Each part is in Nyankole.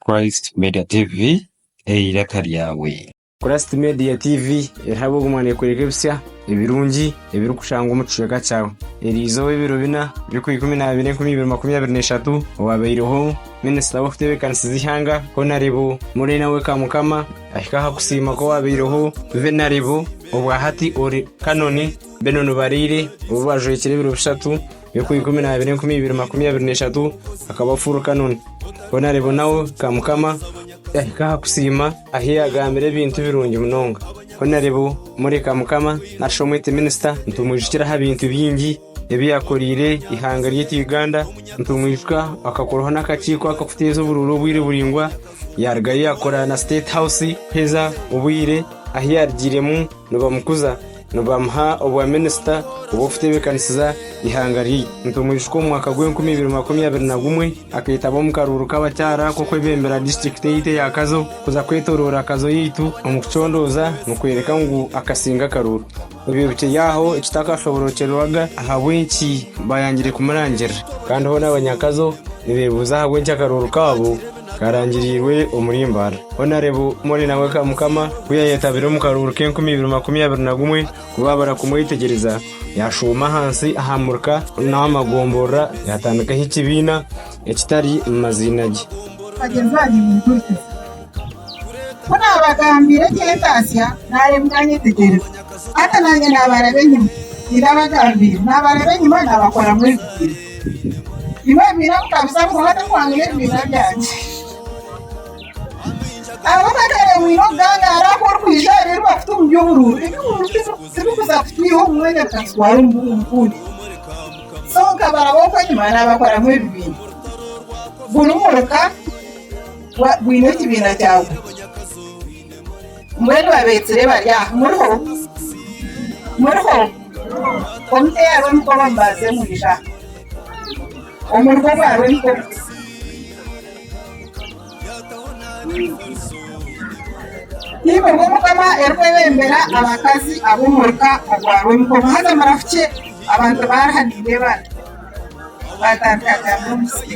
Christ Media TV eiraka ryawe. Christ Media TV eriho ab'ogumwa neekworeka ebitsya ebirungi ebirikushangwa omu kicweka kyawe. Eri izooba ebiro bina by'okwa ikumi n'abiri enkumi ibiri makumi abiri n'eshatu owaabaireho Minisita w'okutebeekanisiza eihanga Honarebo Morena Wekamukama ahika aha kusiima kw'owaabaireho Venarebo obwa hati Ori Canon Benon Baraire obu bajwekire ebiro bishatu Eku ikumi nabiri enkumi ibiri makumi abiri neshatu akaba furu kanoni bona rebonawo ka mukama ahika aha kusiima ahi yagambire ebintu birungi munonga bona rebo muri ka mukama nashi omwete minisita nitumwijukira aha bintu bingi ebi yakorire ihanga ryaitu uganda nitumwijuka akakoraho n'akakiiko akakuteeza obururu obwire buringwa yarugayo yakora na state house kuheza obwire ahi yarugiremu nibamukuza Nibamuha obwa minisita obw'okutebeekanisiza eihanga rye. Nitumwijuka omu mwaka gwa enkumi ibiri makumi abiri na gumwe akaitaba omu karuuru k'abakyara k'okwebembera disiturikiti yaitu eya Kazo kuza kwetoroora Kazo yaitu omu kucondooza nikworeka ngu akasinga akaruuru. Obyebukye yaaho ekitakashoborokyerewaga ahabw'enki baayangire kumurangirira. Kandi hoona Abanyakazo nibebuuza ahabw'enki akaruuru kaabo Karangiriirwe omuri Mbarara. Honarebo Mone na we ka Mukama ku yaayetabire omu karuuru k'enkumi ibiri makumi abiri na gumwe, ku baabara kumwetegyereza, yaashooma ahansi aha muruka n'aha magomborora, yaatandikaho ekibiina ekitari mu maziina ge. Bagyenzi bangye mumpurikize. Ku naabagambiire eky'entaasya, naareba mukanyetegyereza. Hati naanye naabaraba enyima. Tindabagambiire, naabaraba enyima, naabakoramu ebizina. Iwe wemeriire aho okabuza ngu hati ohwangire ebibiina byangye. Ahabw'akatereewaine okugaangaara aku orikwija aha biri bakuta omu by'obururu, eby'obururu tibikuza kutwiha omu mwanya bikatutwara omu bundi. So nkaba ab'oku enyima naabakoramu ebibiina. Buri muruka gwa, gwine ekibiina kyagwo. Mbwenu babeetsire bari aha. Muriho? Muriho? Omuteerwa emikono mubaase mwija aha. Omurimo ogwa Rwenkoro. Nainga obwo Mukama arikwebembera abakazi ab'omuruka ogwa Rwenkoro. Haza murafukye abantu baari aha nindeeba aha. Baatandika kugira ngu n'omusiri.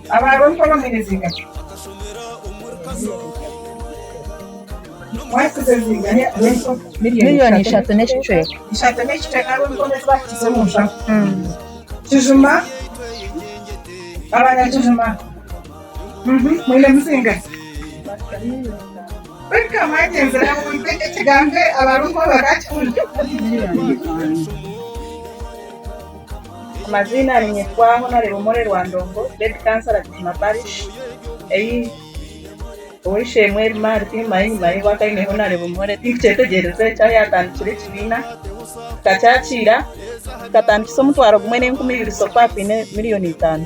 Abaaroni b'abaheereza miliyoni ishatu n'ekicweka baakikiza omu nshaho. Kijuma Abanyakijuma mwine muzinga ki? Kwonka mwagyenzire aha buntu eki ekigambo Abaaroni ku bakaakihurira? Amaziina ninyetwa Honore Omore Rwandongo, Lady Councillor Bukima Parish, eyi ow'eishe-emwe eri Mark Mayi enyima ye bwakaine Honore Omore, tinkukyetegereze eki ahu yatandikire ekibiina, tukakyakiira, tukatandikisa omutwaro gumwe n'enkumi ibiri so kwaba kwine million itano.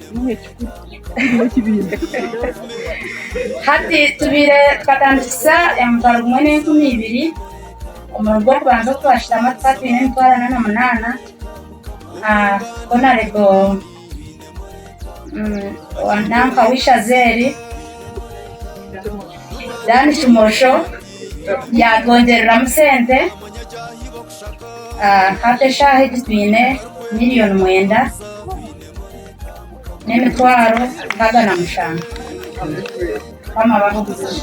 Hati tubaire twatandikisa emitwaro gumwe n'enkumi ibiri omurimo gw'okubanza ogu twashutama tukatwine emitwaro ana na munaana ah, honarebo mm, owa nanka w'ishazeeri Dan Kimosho yaatwongyereramu sente ah, hati eshaaha egi twine miriyoni mwenda n'emitwaro nkaaga na mushanju. Mukama abahe obuzibu.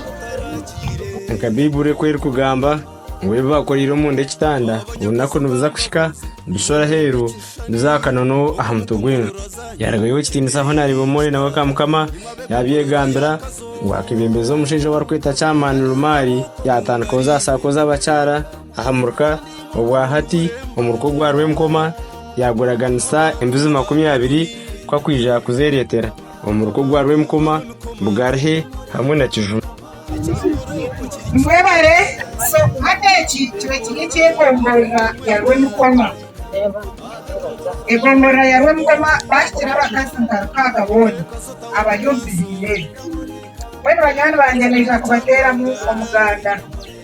Nka Baiburi oku erikugamba, ngu ebi baakoreire omunda ekitanda, orunaku nibuza kuhika, bishwe aheeru, bize aha kanono aha mutwe gw'enju. Yarugayo ow'ekitiinisa aho naareeba omwoyo nawe ka Mukama yaabyegambira, ngu akebembeza omushaija ou barikweta Camani Lumari, yaatandikaho zaasaako z'abakyara, Aha muruka ogwa hati, omuruka ogwa rwenkoma, yaaguraganisa embuzi makumi abiri ku akwija kuzeereetera. Omuruka ogwa rwenkoma, Bugarhe hamwe na Kijuma. Mwebare so hati eki kiba kiri eky'egomborora ya Rwemukoma. Egomborora ya Rwemukoma baahikire abakazi nka Rukaaga boona abari omu biziina ebi. Mbwenu banywani bangye niija kubateeramu omuganda.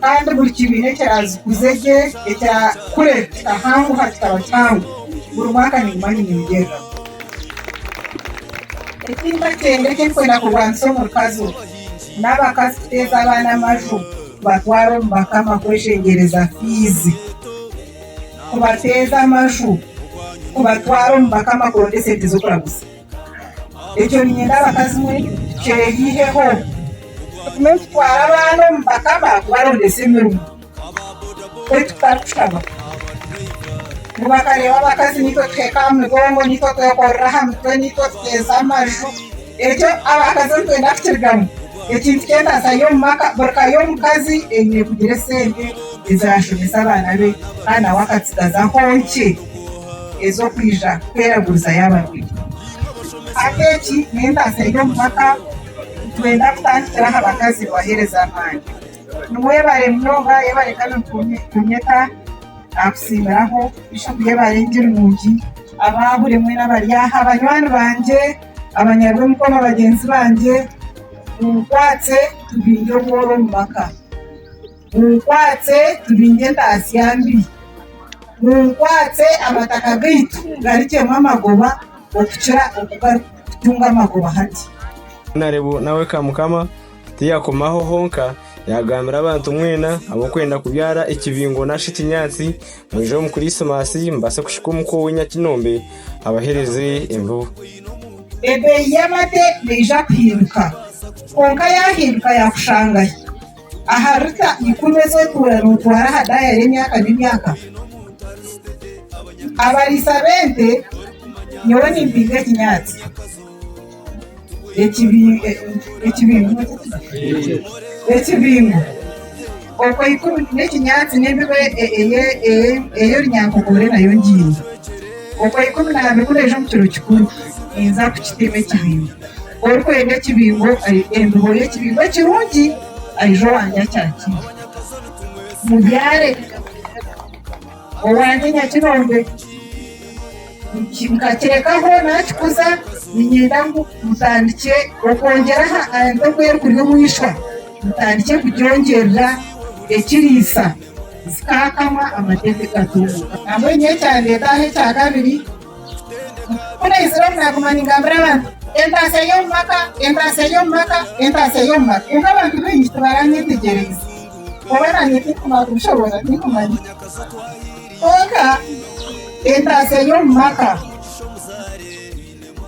Kandi buri kibiina ekyazikuze gye ekya kure kikahanguha kikaba kihango, buri mwaka ninguma ninyongyereraho. Eki nkakyenda ekirikwenda kurwanisa omurukazi ogwo, n'abakazi kuteeza abaana amaju kubatwara omu bakama kweshengyereza fiizi, kubateeza amaju kubatwara omu bakama kuronda esente z'okuraguza. Ekyo niinyenda abakazi mwe kyeyeiheho, tugume nitutwara abaana omu bakama kubarondesa emirimo, beitu tutarikushaba. Ngu bakareeba abakazi niitwe tuheka aha migongo, niitwe twekorera aha mitwe, niitwe tuteeza amaju. Ekyo abakazi nitwenda kukirigamu. Ekintu kyona nza y'omu maka, buri ka y'omukazi eine kugira esente ezaashomesa abaana be kandi nawe akatsigazaho nkye. ez'okwija kweraguriza y'abarwaire. Hati egi n'entaasa y'omu maka ku twenda kutandikira aha bakazi kubaheereza amaani. Ni webare munonga yebare kandi nitukunyeta nakutsimbiraho Bishop yebare ngye nungi abaaha buri omwe nabari aha banywani bangye abanyarwa emikono bagyenzi bangye munkwatse tubingye obworo omu maka. Munkwatse tubingye entaasya mbi, munkwatse amataka gaitu garikyemu amagoba okukira oku garikutunga amagoba hati. Honourable nawe ka Mukama tiyakoma aho honka, yagambira abantu mwena ab'okwenda kubyara ekibingo nashi ekinyaatsi, mwije omu Kurisimasi mubase kushika omuka owe Nyakinombe abahereze embibo. Ebeeyi y'amate neija kuhinduka, kwonka yahinduka yakushangahi? Aha lita ikumi ez'okuura nootwara aha daaya y'emyaka n'emyaka. Abariisa b'ente, nyowe nimpinga ekinyaatsi ekibingo, okwo ikumi n'ekinyaatsi n'embibo ey'orunyankogore nayo ngiine. Okwo ikumi na abiri ku naija omu kiro kikuru, ninza kukitima ekibingo. Orikwenda ekibingo, embibo y'ekibingo ekirungi, aije owange akyakiire. Mubyare owange Nyakinombe, nkakirekaho naakikuza, niinyenda ngu mutandikye okwongyera aha ente oku erikuri omu ishwa, mutandikye kugyongyerera ekiriisa, zikaakamwa, amateete gatunguuka. Nabwe nyowe ekyandeeta aha ekya kabiri. Ku naizire oku naaguma ningambira abantu entaasya y'omu maka, entaasya y'omu maka, entaasya y'omu maka. Kwonka abantu baingi tibaranyetegyereza oba naanye tinkumanya kubishobora tinkumanya. Kwonka entaasya y'omu maka,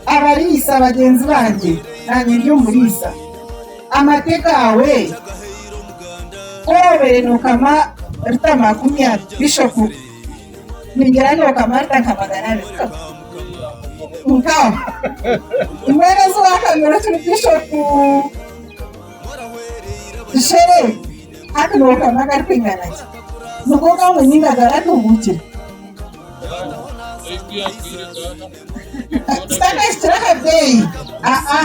abariisa bagyenzi bangye naanye ndi omuriisa, amate gaawe ku obeire nookama rita makumi abiri bishopu. ningira ngu okamarita nka magana abiri nkaho mbwenu ezi wakamira kiri bishopu shere hati nokamira agarikwingana ki nibwo ogamba enyingi agaratubuukire titakahikire aha beeyi aa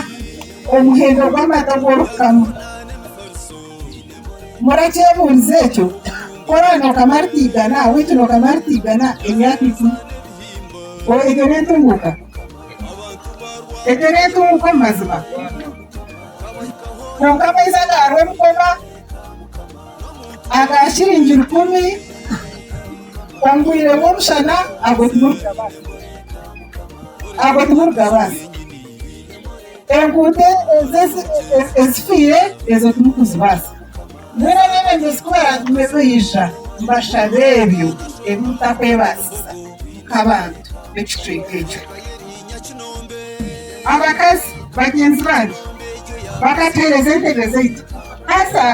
omuhendo gw'amata ogu orikukama Murakyebuurize ekyo? Kora nookama aritaigana, witu nookama aritaigana emyaka ikumi. O, egyo n'entunguuka? Egyo n'entunguuka omu mazima? Kwonka amaizi agaarwo ebikoba, aga shiringi rukumi, omu bwire bw'omushana, ago timurigabara. Ago timurigabara. Enguuto ezo ezifiire ezo timukuzibaasa. Mbwenu abeebembezi ku baraagume baija, mbashabe ebyo ebi mutakwebaasisa nk'abantu b'ekicweka ekyo. Abakazi bagyenzi bange bakateereza entebe zaitu. Haza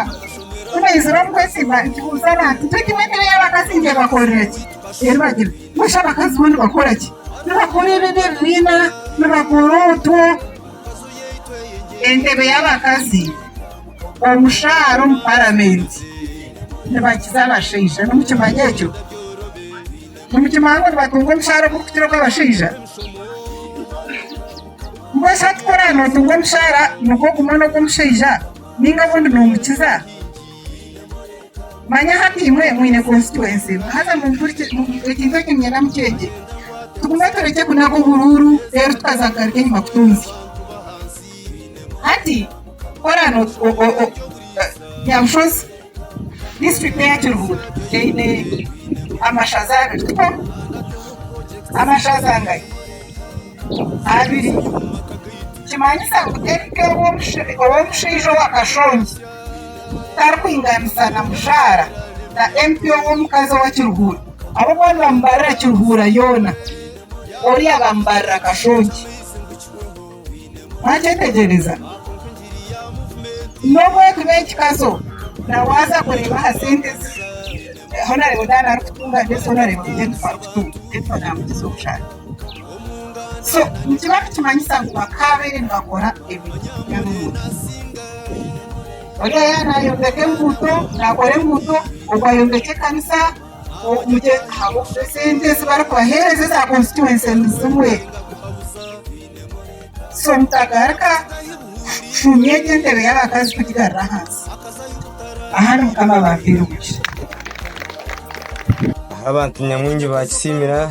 ku baizire omu kwesimba, nkibuuza abantu nti, Egi n'entebe y'abakazi ngy'ebakorere ki? Eribagira. Busha abakazi bo nibakora ki? Nibakora ebibi ebibiina, nibakora otwo. Entebe y'abakazi omushaara omu paramenti nibagiza abashaija. Nimukimanya ekyo? Nimukimanya ngu nibatunga omushaara ogurikukira ogw'abashaija? Mbwenu shi hati ku oraabe nootunga omushaara nigwo gumwe n'ogw'omushaija, nainga obundi noomukiza? Manya hati imwe mwine konsitwensi haza ekintu eki niinyenda mukyegye. Tugume turekye kunaga oburuuru reero tukaza kugaruka enyima kutunzya. Hati kora Byabushozi disiturikiti eya Kiruhura eine amashaza abiri, tikwo? Amashaza ngai? Abiri. Nikimanyisa ngu teri nk'ow'omushaija owa Kashongi. Tarikwinganisa na mushaara na MP ow'omukazi owa Kiruhura. Abo boona nibamubarira Kiruhura yoona, oriya bamubarira Kashongi. Mwakyetegyereza? N'obu ekiba ekikazo nawe aza kureeba aha sente ezi honarebo Diana arikutunga mbwenu honarebo Kanyana ebi arikutunga. So nikiba nikimanyisa ngu bakaabaire nibakora ebirikuhukya n'omurimo. Oriya yaaba naayombeka enguuto, naakora enguuto, ogwo ayombekye ekanisa, omugye ahabw'okuba esente ezi barikubaheereza eza konsituwense ni zimwe. So mutagaruka kucuumya egyo entebe y'abakazi kugigarura ahansi. Ahandi Mukama abampire omugisha. Abantu nyamwingi baakisiimira.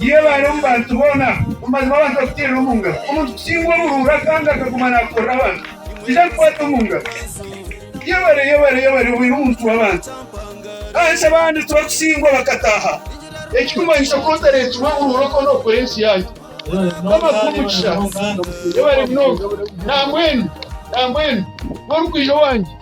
Yebaare omu bantu boona, mazima abantu bakuteere omu ngaro. Omuntu kutsingwa obuhuura kandi akaguma nakorera abantu, ija akukwate omu ngaro. Yebare, yebare, yebare obeire omuntu w'abantu. Ahansi abandi tibakutsingwa bakataaha. Ekikumanyisa ku otareetsirwe obuhuura okwo n'okwo ensi yanyu. Mukama akuhe omugisha. Yebare munonga. Nambwenu, nambwenu, ku orikwija owangye.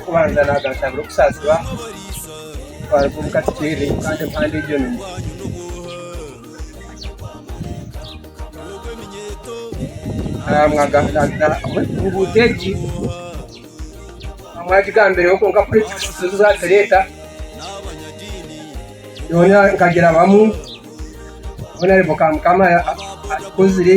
Okubanza naagashabira okusaasirwa kwaruga omu katikiire kandi empandu egyo nimu. Enguuto egi mwagigambireho kwonka kuri eki kishushe zaatureeta yoona nkagirabamu naareeba ka Mukama atukozire.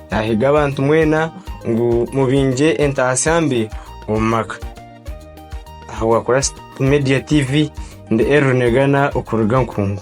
Naahiga abantu mwena ngu mubingye entaasya mbi omu maka. Aha bwa Christ Media TV, ndi Elro Negana okuruga Nkungu.